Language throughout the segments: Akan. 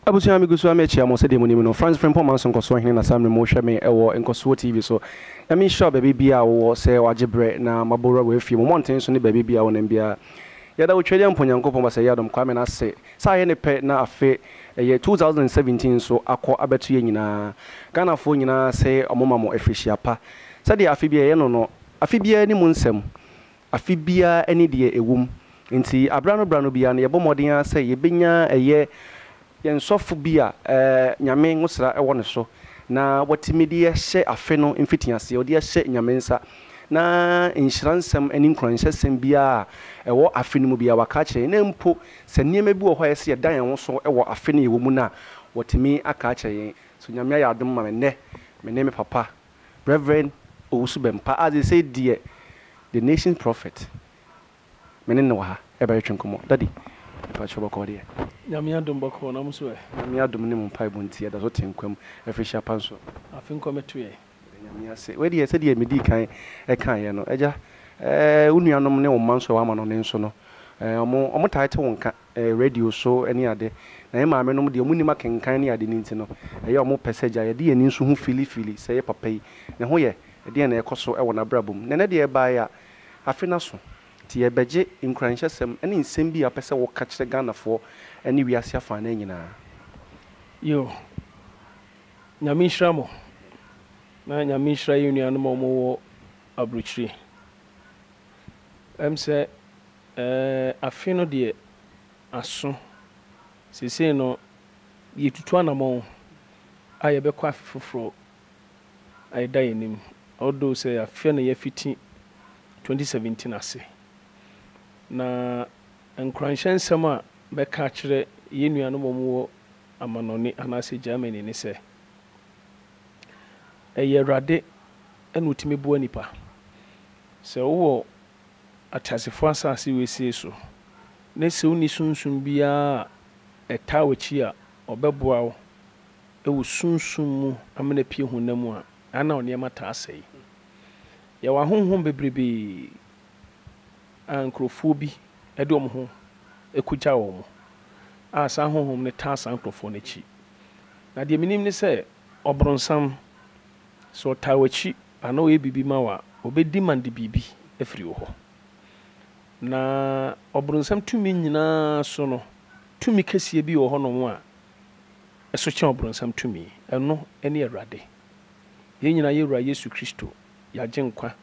Abusua a migu so a merekyia mo, sɛdeɛ monim no, Franz Frimpong Manso Nkɔsoɔ Hene na saa mmerɛ mu wohwɛ me wɔ Nkɔsoɔ TV so. Nyame nhyira wo baabi biaa wowɔ sɛ wagye berɛ na mabɔ wura w'afie mu, mmɔnten so ne baabi biaa wonam biaa. Yɛda wo Twɛdeɛ Mpo Nyankopɔn Basɛeɛ Adom Kwame no ase sɛ ayɛ ne pɛ na afe ɛyɛ 2017 nso akɔ abɛto yɛn nyinaa Ghanafoɔ nyinaa ase ɔmo ma mo afirihyia pa sɛdeɛ afe biaa yɛyɛ no no, afe biaa ni mu nsɛm Afe biara ne deɛ ɛwom. Enti berɛ ano berɛ ano biara no, yɛbɔ mmɔden ara sɛ yɛbɛnya ɛyɛ yɛn sɔfo bi a Nyame nwosra wɔ ne so, na watumi de ahyɛ afe no mfitiaseɛ, ɔde ahyɛ Nyame nsa, na nhyira nsɛm ne nkuranhyɛsɛm biara a ɛwɔ afe no mu biara waka akyerɛ yɛn, na mpo sɛ nneɛma bi wɔ hɔ a ɛyɛ sɛ yɛda yɛn ho so wɔ afe no a yɛwɔ mu no a, watumi aka akyerɛ yɛn. So Nyame ayɛ adom ma me nnɛ, me ne me papa Rev. Owusu-Bempah a seesei deɛ the nation's prophet me ne no wɔ ha ɛbɛtwetwe nkɔmmɔ. Daddy, mpakyɛw bɔkɔɔ deɛ? Nyame adom bɔkɔɔ, na mo nso ɛ? Nyame adom ne mo mpaebɔ nti yɛda so te nkwa mu ɛfiri hyɛ apa nso. Afe nkwa mɛto yɛn. Yɛda Nyame ase. Wei deɛ sɛdeɛ medii kan kaeɛ no, Agya, eh, wo nuanom ne wo mma nso a woama no ne nso no, eh, wɔn, wɔtaa te wo nka. radio so ne ade. Na yɛn maamenom deɛ, wɔnnim akenkan ne ade no nti no, ɛyɛ wɔn pɛ sɛ agya yɛde yɛn ani nso hu filifili sɛ yɛ papa yi, ne ho yɛ deɛn na ɛrekɔ so wɔ n'abrabɔ mu. Nnɛ, n'adeɛ rebaeɛ a, afe no aso. Enti yɛrebɛgye nkuranhyɛsɛm ne nsɛm bi a wopɛ sɛ woka kyerɛ Ghanafoɔ ne wiase afã no nyinaa. Yoo. Nyame nhyira mo, na Nyame nhyira yɛn nuanom a wɔwɔ aburokyire. Ɛm sɛ ɛɛ afe no deɛ aso. Seesei no yɛretutu anamɔn a yɛbɛkɔ afe foforɔ a ɛda yɛn anim. Although sɛ afeɛ no yɛafiti 2017 ase. Na nkuranhyɛ nsɛm a mɛka akyerɛ yɛn nuanom a wɔwɔ amanɔne anaasɛ Germany ne sɛ, Ɛyɛ Awurade na ɔtumi boa nnipa. Sɛ wowɔ ateasefoɔ asase wesee so ne sɛ wonni sunsum biara a ɛtaa w'akyi a ɔbɛboa wo wɔ sunsum mu amena apue honam mu a, ɛa na wo nneɛma taa sɛe. Yɛwɔ ahonhom bebrebee a nkurɔfoɔ bi de wɔn ho kɔgya wɔn a saa ahonhom no taa saa nkurɔfoɔ no akyi Na deɛ menim ne sɛ, ɔbronsam, sɛ ɔtaa w'akyi anaa ɔyɛ biribi ma wo a, ɔbɛdi man de biribi afiri wo hɔ. Na ɔbronsam tumi nyina ara so no, tumi kɛseɛ bi wɔ hɔ nom a ɛso kyɛn ɔbronsam tumi. Ɛno ne Awurade. Yɛn nyina ara yɛ Wura Yesu Kristo, yɛn Agyenkwa,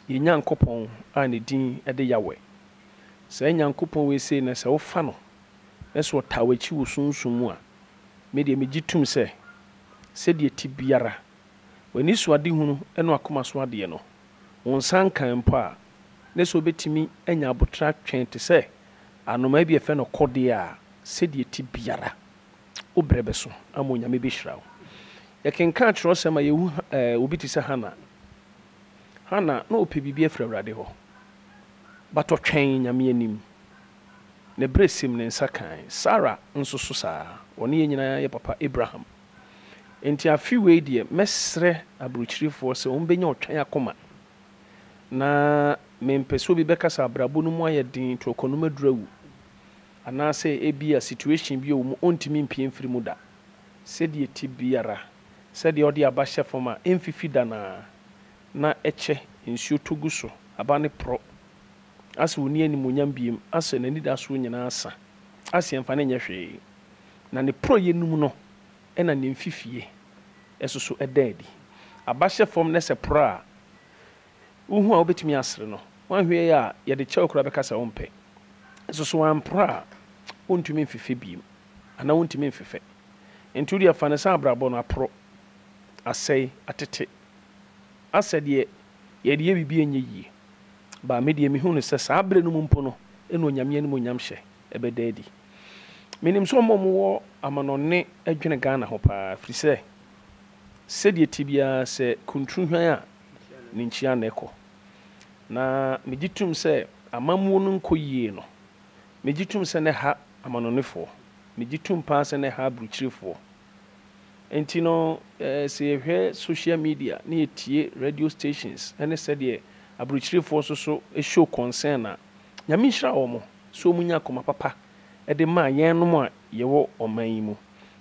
yɛn Nyankopɔn a ne din de Yahweh. Saa Nyankopɔn wei sei na sɛ wofa no na sɛ ɔtaa w'akyi wɔ sunsum mu a, me deɛ megye tom sɛ, sɛdeɛ ɛte biara, w'anisoadehunu ne w'akoma so adeɛ no, wo nsa nkae mpo a, na sɛ wobɛtumi anya aboterɛ atwɛn te sɛ anomaa bi a yɛfrɛ no kɔdeɛ a, sɛdeɛ ɛte biara, wo berɛ bɛso ama Onyame bɛhyira wo. Yɛkenkan atwerɛsɛm a, yɛhu obi te sɛ Hana. Hana, na ɔpɛ biribi afiri Awurade hɔ, but ɔtwɛn Nyame anim. ne berɛ siim ne nsa kae. Sara nso so saa ara, ɔne yɛn nyinaa yɛ papa Abraham. Enti afe wei deɛ, mɛsrɛ aburokyirefoɔ sɛ wɔbɛnya ɔtwɛn akoma, na mempɛ sɛ obi bɛka sɛ abrabɔ no mu ayɛ den, torɔkɔ nom aduru awu, anaasɛ ebia situation bi wɔ mu ɔntumi mpue mfiri mu da. Sɛdeɛ ɛte biara, sɛdeɛ wɔde aba hyɛ fam a ɛmfifi da no ara, na ɛkyɛ, nsuo tɔ gu so, aba no porɔ. asɛ ɔnni animuonyam biem, asɛ n'anidasoɔ nyinaa asa, asɛ yɛmfa no nyɛ hwee, na ne porɔeɛ no mu no na ne mfifie soso da adi. Aba hyɛ fam na sɛ poro a, wohu a wobɛtumi asere no, woanhwɛ yie a yɛde kyɛ wo koraa bɛka sɛ wompɛ. Nso so amporo a, wontumi mfefɛ biem, anaa wontumi mfefɛ. Enti wodeɛ fa no sɛ abrabɔ no aporo, asɛe, atete, asɛ deɛ yɛde yɛ biribi a ɛnyɛ yie. Ba, me deɛ mehu no sɛ saa berɛ no mu mpo no na Onyame animuonyam hyɛ bɛda adi. Menim sɛ ɔma ɔmo wɔ amanɔne dwene Ghana ho paa, firi sɛ sɛdeɛ ɛte biara sɛ kunturu hwan a, ne nkyia na ɛkɔ. Na megye tum sɛ amammuo no nkɔ yie no, megye tum sɛ na ɛha amanɔnefoɔ, megye tum paa sɛ na ɛha abrukyirefoɔ, Enti no, sɛ yɛhwɛ social media na yɛtie radio stations ne sɛdeɛ aburokyirifoɔ nso so show concern a, Nyame nhyira wɔn sɛ wɔn nya akoma papa de ma yɛnom a yɛwɔ ɔman yi mu.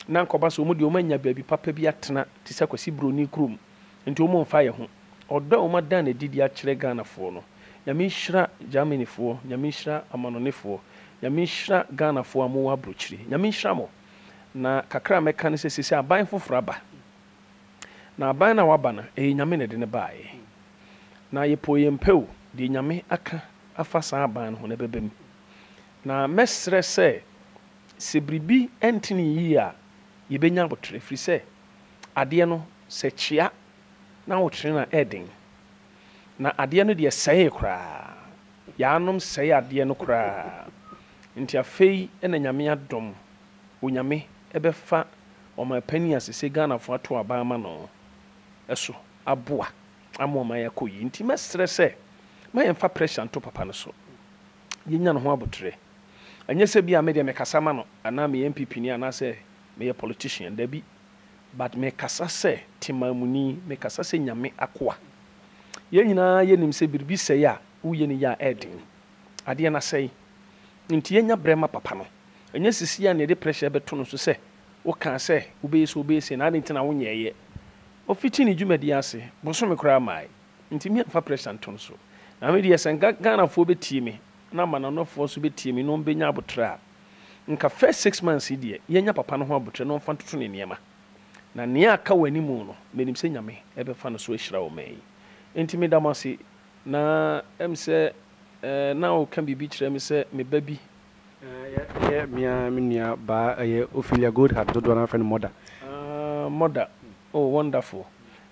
Na anka ɔba sɛ wɔn deɛ wɔn anya baabi papa bi atena te sɛ Kwasi Broni kurom, nti wɔn mfa yɛn ho. Ɔdɔ a wɔn ada no adi de akyerɛ Ghanafoɔ no, Nyame nhyira Germanyfoɔ, Nyame nhyira amanonefoɔ, Nyame nhyira Ghanafoɔ a mowɔ aburokyire, Nyame nhyira mo. Na kakra a mɛka ne sɛ seesei aban foforɔ aba. Na aban no a waba no, ɛyɛ Nyame na ɛde no baeɛ. Na yɛpɛ o yɛmpɛ o, deɛ Nyame aka afa saa aban no ho no ɛbɛba mu. Na mɛsrɛ sɛ, sɛ biribi ntene yie a, yɛbɛnya aboterɛ. Ɛfiri sɛ, adeɛ no, sɛ ɛkyea na ahoterɛ no a, ɛyɛ den. Na adeɛ no deɛ sɛee koraa. Yaanom sɛee adeɛ no koraa. Nti afei na Nyame adom, Onyame bɛfa Ɔmanpanin a sesei Ghanafoɔ ato aba ama no so aboa ama ɔman akɔ yie. Nti mɛsrɛ sɛ ma yɛmfa pressure nto papa no so. Yɛnya ne ho aboterɛ. Ɛnyɛ sɛ bi a me deɛ mekasa ma no anaa meyɛ NPPni anaasɛ meyɛ politician, dabi. But me kasa sɛ temanmuni, me kasa sɛ Nyame akoa. Yɛn nyinaa yɛ nim sɛ biribi sɛe a, wo yɛ no yie a ɛyɛ den. Adeɛ no asɛe. Nti yɛn nya brɛ ma papa no. Ɛnyɛ sisi a na yɛde pressure bɛto no so sɛ wo kaa sɛ wo bɛyɛ sei wo bɛyɛ sei na adeɛ nti na wo nyɛɛyɛ. Ɔfiti ne dwumadie ase, bosome koraa mmae. Nti me mfa pressure nto no so. Na me deɛ sɛ nka Ghanafoɔ bɛtie me na amanɔnɔfoɔ nso bɛtie me na wɔn bɛnya aboterɛ a, Nka first six months yi deɛ yɛnya papa no ho aboterɛ na ɔmfa ntoto ne nneɛma. Na nea aka wɔ anim no, menim sɛ Nyame bɛfa no so ahyira ɔman yi. Enti meda mo ase. Na ɛm sɛ eh, na woka biribi kyerɛ me sɛ me ba bi. Eh, ɛyɛ me ara me nua baa, ɛyɛ Ophelia Goldheart, dodoɔ no ara fɛ no Mother. Ah, Mother. Oh, wonderful.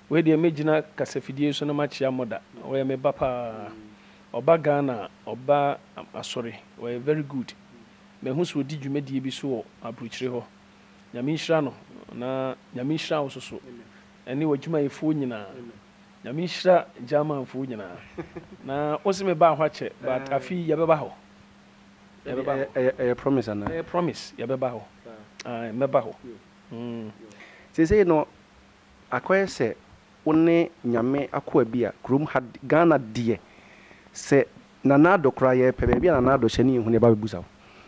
Wei deɛ mɛgyina kasafidie yi so na makyea Mother. Ɔyɛ me ba paa. Ɔba Ghana a ɔba asɔre ɔyɛ very good mahu sɛ ɔdi dwumadie bi so wɔ aburokyire hɔ Nyame nhyira no na Nyame nhyira wo nso so ɛne w'adwumayɛfoɔ nyinaa Nyame nhyira Germanfoɔ nyinaa na wo se mebaa hɔ akyɛ but afe yi yɛbɛba hɔ yɛbɛba hɔ Ɛyɛ promise anaa? Ɛyɛ promise yɛbɛba hɔ ae mɛba hɔ mm. Seisei no Akɔyɛ sɛ wo ne Nyame akoa bi a kurom ha de, Ghana deɛ sɛ Nana Addo koraa yɛpɛ baabi a Nana Addo hyɛ ne yɛhu no yɛba bɛbusa wo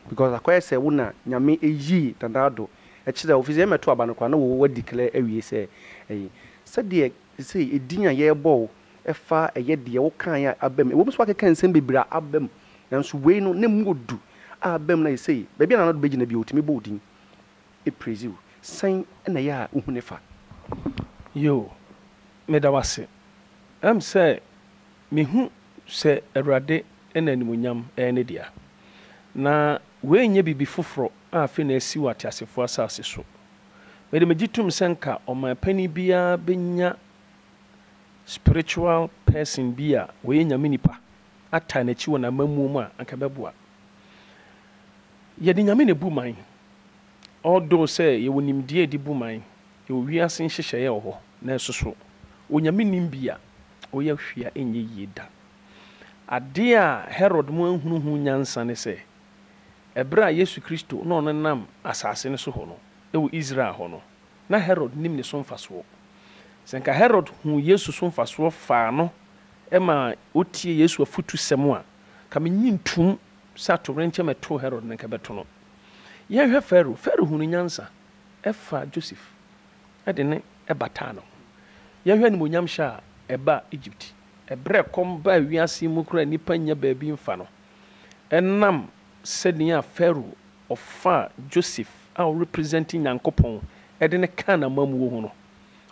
because akɔyɛ sɛ wo na Nyame yii Nana Addo kyerɛɛ wo firi sɛ yɛ mɛto aba no koraa na wo wa declare awie sɛ ɛyi sɛdeɛ sesei edin a yɛrebɔ wo ɛfa ɛyɛ deɛ wo kaeɛ a aba mu ɛwɔ mu sɛ woakeka nsɛm bebree a aba mu nanso wei no na ɛmu ɔdu a aba mu na sesei baabi a Nana Addo bɛgyina biara ɔtumi bɔ wo din praise wo. Sɛn na ɛyɛ a wuhu ne fa? Yoo, meda wo ase. Ɛm sɛ mihu sɛ Awurade na animuonyam yɛ ne dea. Na wei nyɛ biribi foforo a afei na asi wɔ ateasefo asase so. Mede megye tom sɛ nka ɔman panyin biara benya spiritual person bi a ɔyɛ Nyame nipa ataa n'akyi wɔ n'amammuo mu a, anka ɛbɛboa. Yɛde Nyame na ebu man. Although sɛ yɛwɔ nimdeɛ a yɛde bu man, yɛwɔ wiase nhyehyɛe a ɛwɔ hɔ, nanso so Onyame nnim bi a ɔyɛ hwee a ɛnyɛ yie da? Ade a Herod mu anhunu ho nyansa ne sɛ, ɛberɛ a Yesu Kristo na ɔnenam asase no so hɔ no, ɛwɔ Israel hɔ no, na Herod nim ne so mfasoɔ. Sɛ nka Herod huu Yesu so mfasoɔ faa no maa ɔtiee Yesu afotusɛm a, nka mennye ntoom. sɛ atowerenkyɛm a ɛtoo Herod no nka ɛbɛto no. Yɛnhwɛ Farao. Farao hunuu nyansa faa Joseph de no bataa ne ho. Yɛnhwɛ animuonyamhyɛ a ɛbaa Egypt bere a ɛkɔm baa wiase mu koraa a nnipa nnya baabi mfa no. Ɛnam sɛnea Farao ɔfaa Joseph a ɔrepresente Nyankopɔn de no kaa n'amammuo ho no,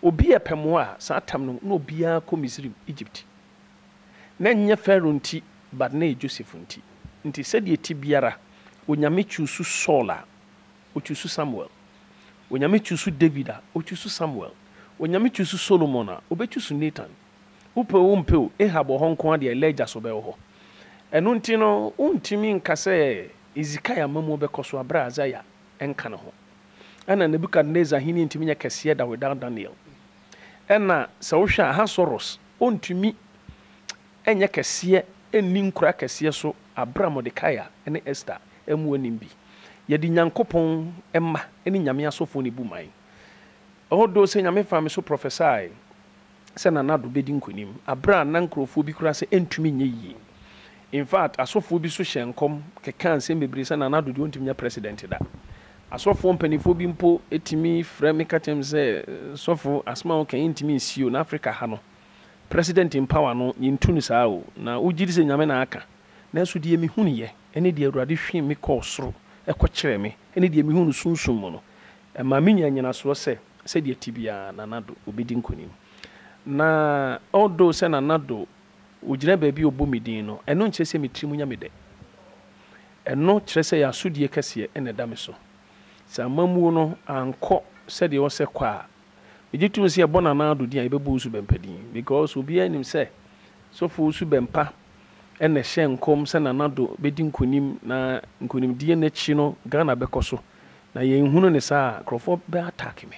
obi a ɛpɛ mmoa a, saa tam no na obiara kɔ Misraim, Egypt. Na ɛnyɛ Farao nti, but na ɛyɛ Joseph nti. Nti sɛdeɛ ɛte biara, Onyame chuusu Saul a, Ɔchuusu Samuel. Onyame chuusu David a, Ɔchuusu Samuel. Onyame chuusu Solomon a, Ɔbɛchuusu Nathan. Wopɛ o wompɛ o, Ahab wɔ hɔ nko ara deɛ, Elijah so bɛwɔ hɔ. Ɛno nti no, wontumi nka sɛ Hezekiah amamuo bɛkɔ so aberɛ a Isaiah nka ne ho. Ɛna Nebuchadnezzar ahennie ntumi nyɛ kɛseɛ da without Daniel. Ɛna sɛ wohwɛ a, Ahasweros Ontumi nyɛ kɛseɛ nni nkura kɛseɛ so aberɛ a Mordekai ne Ester mmu anim bi. Yɛde Nyankopɔn mma ne Nyame asɔfoɔ na ebu man. Although sɛ Nyame faa me so prophesied sɛ Nana Addo bɛdi nkonim aberɛ a na nkorɔfoɔ bi koraa sɛ ɛntumi nyɛ yie. In fact, asɔfoɔ bi nso hyɛɛ nkɔm kekaa nsɛm bebree sɛ Nana Addo deɛ ɔntumi nyɛ president da. Asɔfoɔ mpaninfoɔ bi mpo tumi frɛ me ka kyerɛ me sɛ, Sɔfo, asɛm a woka yi yɛntumi nsie o, na Afrika ha no, President mpawa no, yɛntu no saa o, na wogye di sɛ Nyame na aka. Nanso deɛ mehunuiɛ, ne deɛ Awurade hwim me kɔɔ soro kɔkyerɛɛ me, ne deɛ mehunu no sunsum mu no, ɛma menya nnyinasoɔ sɛ, sɛdeɛ ɛte biara, Nana Addo, ɔbɛdi nkonim. Na although sɛ Nana Addo, ɔgyina baabi a ɔbɔ me din no, ɛno nkyerɛ sɛ me tiri mu nya me dɛ. Ɛno kyerɛ sɛ yɛn asodie kɛseɛ na ɛda me so. Sɛ amammuo no ankɔ sɛdeɛ ɛwɔ sɛ ɛkɔ a, megye tom sɛ yɛbɔ no anaa ado din a, yɛbɛbɔ wo subɛmpa din. Because obiara nim sɛ sɔfo subɛmpa na ɛhyɛ nkɔm sɛ Nana Addo bɛdi nkonim na nkonimdie no akyi no Ghana bɛkɔ so. Na yɛnhunu no saa a, nkorɔfoɔ bɛ attack me.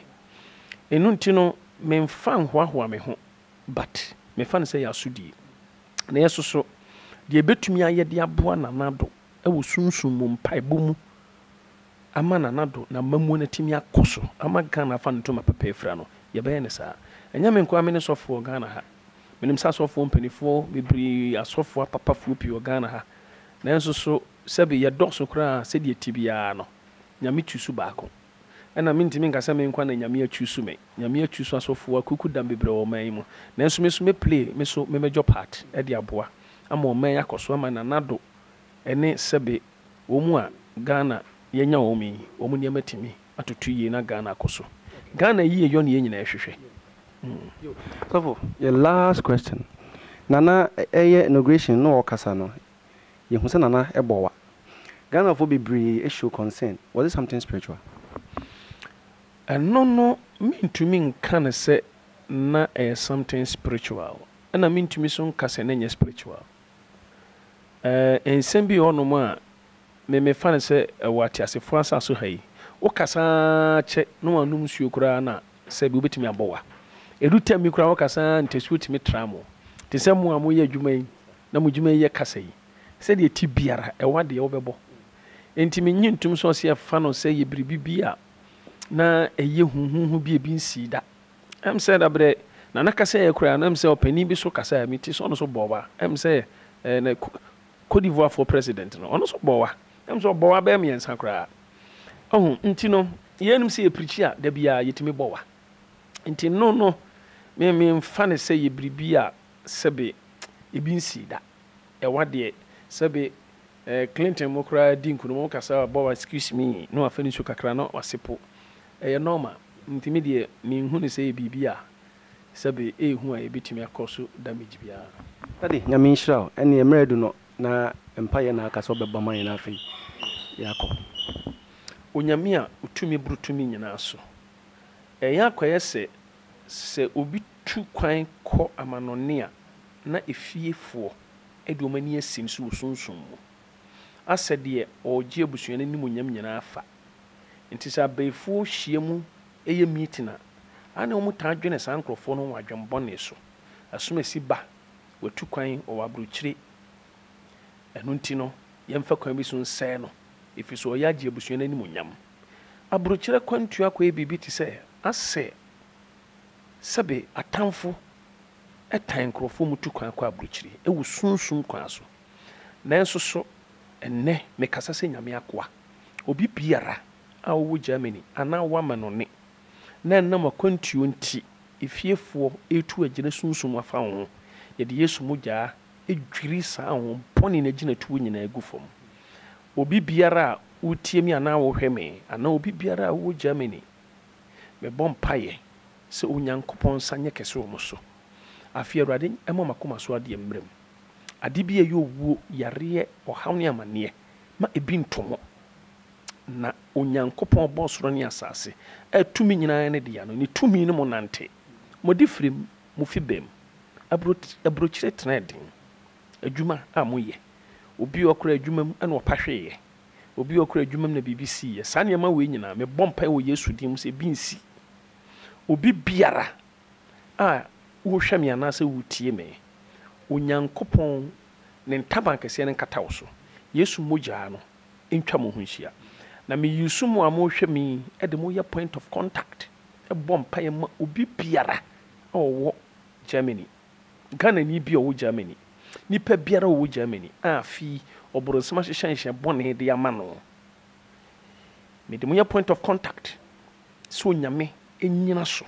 Ɛno nti no, memfa nhoahoa me ho But mefa no sɛ yɛ asodie. Na yɛ soso deɛ yɛbɛtumi ayɛ de aboa Nana Addo wɔ sunsum mu, mpaebɔ mu ama Nana Addo na amamuo no atumi akɔ so ama Ghana afa ne ntoma papa afira no, yɛbɛyɛ no saa. Ɛnyɛ me nko ara mene sɔfoɔ wɔ Ghana ha. Menim sɛ asɔfoɔ mpanifoɔ bebree, asɔfoɔ apapafoɔ pii wɔ Ghana ha. Nanso so sɛbe yɛdɔɔso koraa sɛdeɛ ɛte biara no, Nyame tu so baako. Ɛna mentumi nka sɛ me nkoa na Nyame achuusu me. Nyame achuusu asɔfoɔ akuku dam bebree wɔ ɔman yi mu. Nanso me nso mɛ play me so me major part de aboa ama ɔman yi akɔ so ama Nana Addo ne Sɛbe wɔn a Ghana yɛanya wɔn yi wɔn nneɛma atumi atoto yie na Ghana akɔ so. Ghana yieyɔ na yɛn nyinaa hwehwɛ. Sɔfo, yɛ last question. Nana ɛyɛ inauguration na ɔkasa no, Yehu sɛ Nana bɔ wa. Ghanafoɔ bebree show concern, was it something spiritual? Ɛno no mentumi nka no sɛ na ɛyɛ something spiritual, ɛna mentumi nso nka sɛ na ɛnyɛ spiritual. Ɛɛ, nsɛm bi wɔ hɔnom a. Me me fa no sɛ ɛwɔ ateasefoɔ ansa so ha yi. Wo kasa ara kyɛ na wannom nsuo koraa na sɛ bi wobɛtumi abɔ wa. Ɛdu tɛm bi koraa wo kasa ara ntasuo tumi tra mo. Te sɛ mo a mo yɛ adwuma yi na mo adwuma yi yɛ kasa yi. Sɛdeɛ ɛte biara ɛwɔ adeɛ wo bɛbɔ. Ɛnti me nye ntom sɛ ɔse ɛfa no sɛ yɛ biribi bi a na ɛyɛ huhuhu bi a ɛbi nsii da. Ɛm sɛ da berɛ Nana kasaeɛ koraa no ɛm sɛ ɔpanin bi so kasaeɛ me ti sɛ ɔno nso bɔɔ wa. Ɛm sɛ ɛɛ na Côte d'Ivoire foɔ president no ɔno nso bɔwa ɛm sɛ ɔbɔwa bɛyɛ mmiɛnsa koraa ɔho nti no yɛn nim sɛ yɛ prikyi a da biara yɛtumi bɔwa nti no no me me nfa ne sɛ yɛ biribi a sɛbe ebi nsii da ɛwa deɛ sɛbe eh, Clinton mo koraa di nkuno mo kasa bɔwa excuse me no afɛ ne nsu kakra no wase po ɛyɛ normal nti me deɛ me nhu ne sɛ yɛ biribi a Sɛbe ei hu a yɛbɛtumi akɔ so damage biara. Daddy Nyame nhyira wo. Ɛneɛ mmerɛ adu no na mpaeɛ na aka sɛ ɔbɛbɔ ama yɛn na afei yɛakɔ. Onyame a ɔtumi boro tumi nyinaa so. Ɛyɛ akɔyɛ sɛ sɛ obi tu kwan kɔ amanɔne a na efiefoɔ de wɔn ani asim so wɔ sunsum mu. Asɛ deɛ ɔregye abusua no animuonyam nyinaa fa. Nti sɛ abayifoɔ hyia mu yɛ meeting a, aane wɔn taa dwene saa nkorɔfoɔ no wɔn adwen bɔne so. Asomasi ba, watu kwan wɔ w'aburokyire. Ɛno nti no, yɛmfa kwan bi so nsɛe no, ɛfiri sɛ ɔyɛ agye abusua no animuonyam. Aburokyire akwantuo akɔyɛ biribi te sɛ asɛ sɛbe atamfo tan nkorɔfoɔ wɔtu kwan kɔ aburokyire wɔ sunsum kwan so. Nanso so ɛnnɛ mekasa sɛ Nyame akoa? Obi biara a ɔwɔ Germany anaa w'amanɔne na ɛnam akwantuo nti efiefoɔ retu agyina sunsum afa wo ho, yɛde Yesu mogyaa dwiri saa ahon bɔne no agyinatuo nyinaa agu fam. Obi biara a wotie me anaa wohwɛ me anaa obi biara a ɔwɔ Germany, mebɔ mpaeɛ sɛ Onyankopɔn nsa nyɛ kɛse wɔ mo so. Afei Awurade mma m'akoma so adeɛ mmra mu. Ade bi a ɛyɛ owuo, yareɛ, ɔhaw ne amaneɛ ma ebi nto ho. Na Onyankopɔn ɔbɔɔ soro ne asase a tumi nyinaa ne dea no, ne tumi no mu nante. Mode firi mo fibam aburokyire tena den. Adwuma a moyɛ. Obi a ɔkora adwuma mu na ɔpa hweeɛ. Obi a ɔkora adwuma mu na biribi siiɛ. Saa nneɛma wei nyinaa, mebɔ mpaeɛ wɔ Yesu din mu sɛ ebi nsi obi biara. a wohwɛ me anaasɛ wotie me. Onyankopɔn ne ntaban kɛseɛ no nkata wo so. Yesu mogyaa no ntwa mo ho nhyia. Na me use mo a mohwɛ me yi de mo yɛ point of contact bɔ mpaeɛ ma obi biara a ɔwɔ Germany. Ghanani bi a ɔwɔ Germany. Nipa biara a ɔwɔ Germany a fi ɔboronsam ahyehyɛ nhyɛ bɔne de ama no. Mede mo yɛ point of contact. sɛ Onyame nnyina so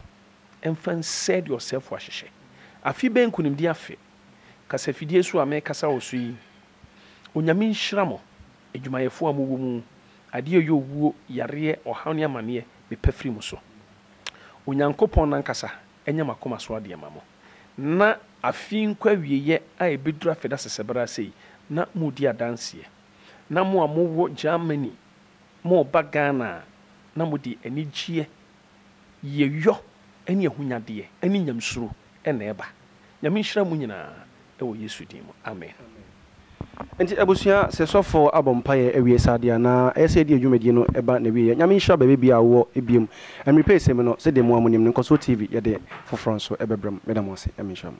mfa nsɛe deɛ ɔsɛefo ahyehyɛ. Afe bɛyɛ nkunimdie afe kasafidie so a merekasa wɔ so yi. Onyame nhyira mo, adwumayɛfoɔ a mowɔ mu. Adeɛ a ɛyɛ owuo, yareɛ, ɔhaw ne amaneɛ, mepɛ firi mo so. Onyankopɔn no ankasa nyɛ mo akoma so adeɛ mma mo. Na afe yi nkɔ awieeɛ a ɛbɛduru afe dasesɛ bɛrɛ sei, na moredi adanseɛ. Na mo a mowɔ Germany Moreba Ghana a, na mode anigyeɛ, yieyɔ ne ahonyadeɛ ne Nyamesuro na ɛba. Nyame nhyira mo nyinaa wɔ Yesu din mu, amen. Nti abusua sɛ sɔfoɔ abɔ mpaeɛ awie saa deɛ na ɛyɛ sɛ yɛde yɛn dwumadie no ba n'awieɛ. Nyame nhyira baabibiaa a wowɔ biom. Ɛmmere pɛ ɛsɛ mu no sɛdeɛ mo a monim no Nkɔsoɔ TV yɛde foforɔ nso bɛbrɛ mo. Meda mo ase. Nyame nhyira mo.